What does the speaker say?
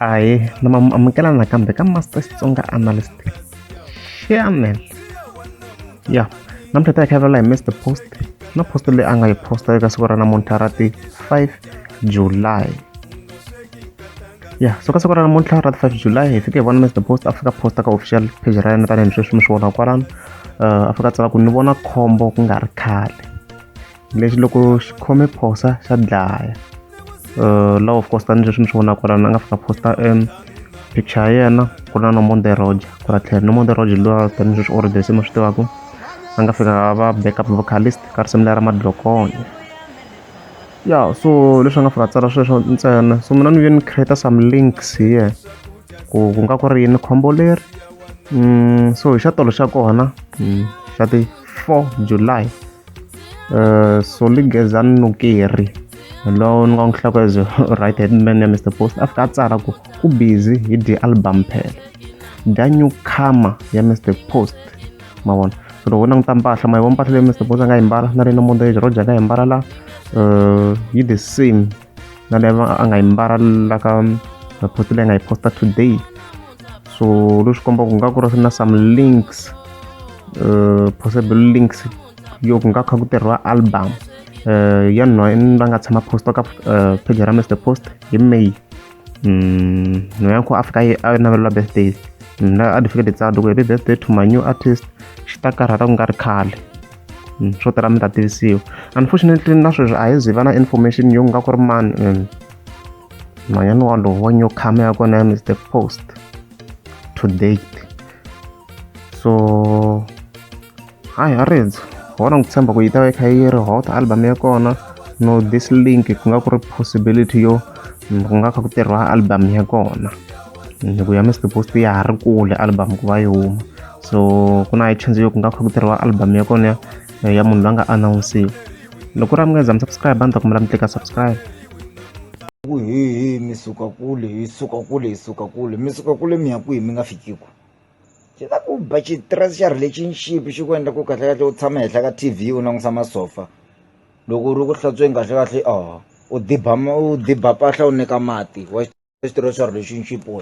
aye ni ma amukela nakambe ka master xitsonga analyst chairman ya namuntlha ta hi khavelela hi mr post na post leyi a nga yi posta eka siku ra namuntlha ra ti 5 july ya so ka siku ra namuntlha ra ti 5 july hi fike hi vona mr post a fika posta ka official page ra yena tanihi sweswi mi swi vona kwalano uh, a fika tsala ku ni vona khombo ku nga ri khale lexi loko xi khome phosa xa dlaya uh, law of course tani leswi ni swi vonaka lana a nga fika posta um picture ya yena ku ri na nomonde roger ku ra tlhela nomonde roger lowa tani leswi already se mi swi tivaka a nga fika va backup vocalist ka risimu lera madlokonya ya so leswi a nga fika tsala sweswo ntsena so mina ni ve ni create some links hi yena ku ku nga ku ri yini khombo leri mm, so hi xa tolo xa kona mm, xa ti 4 july Uh, Solly Gezan Nukeri lowu ni nga n'wi hlaka as right hand man ya Mr Post a fika a tsala ku ku busy hi dye album phela dya new comer ya Mr Post ma vona loko u languta mpahla ma yi vona mpahla leyi Mr Post a nga yi mbala na leyi na Mondayage Roger a nga yi mbala la uh, yi the same na le a nga yi mbala la ka report leyi nga yi posta today so leswi kombaka ku nga ku ri na some links uh, possible links yo ku nga kha ku tirhiwa album uh, ya nwa va nga tshama posta ka uh, page ra mr post hi may mm, no ya ku afika a navelela birthday na a ni fike ni tsaka loko hi ri birthday to my new artist xi ta karhala ku nga ri khale hmm, swo tala mi ta tivisiwa unfortunately na sweswi a hi zivana information yo nga ku ri mani hmm. nhwanyana walowo wa nyokama ya kona ya mr post to date so hayi ha ridzo hona ni ku tshemba ku yi ta va yi kha yi ri hot album ya kona no this link ku nga ku ri possibility yo ku nga kha ku tirhiwa album ya kona ni ku ya Mr Post ya ha ri kule album ku va yi huma so ku na chance yo ku nga kha ku tirhiwa album ya kona ya munhu loyi a nga announsiwa loko ku ri a mi nga za mi subscribe a ni ta kumela mi tleka subscribe ku hehe mi suka kule hi suka kule hi suka kule mi suka kule mi ya kwihi mi nga fikiku xi ta ku ba xitirasi xa relationship xi ku endla ku kahlekahle u tshama henhla ka t v u langusa masofa loko u ri ku hlantsweni kahlekahle u diba u diba mpahla u nyika mati wa swi tiva leswaku lexi i nxipo.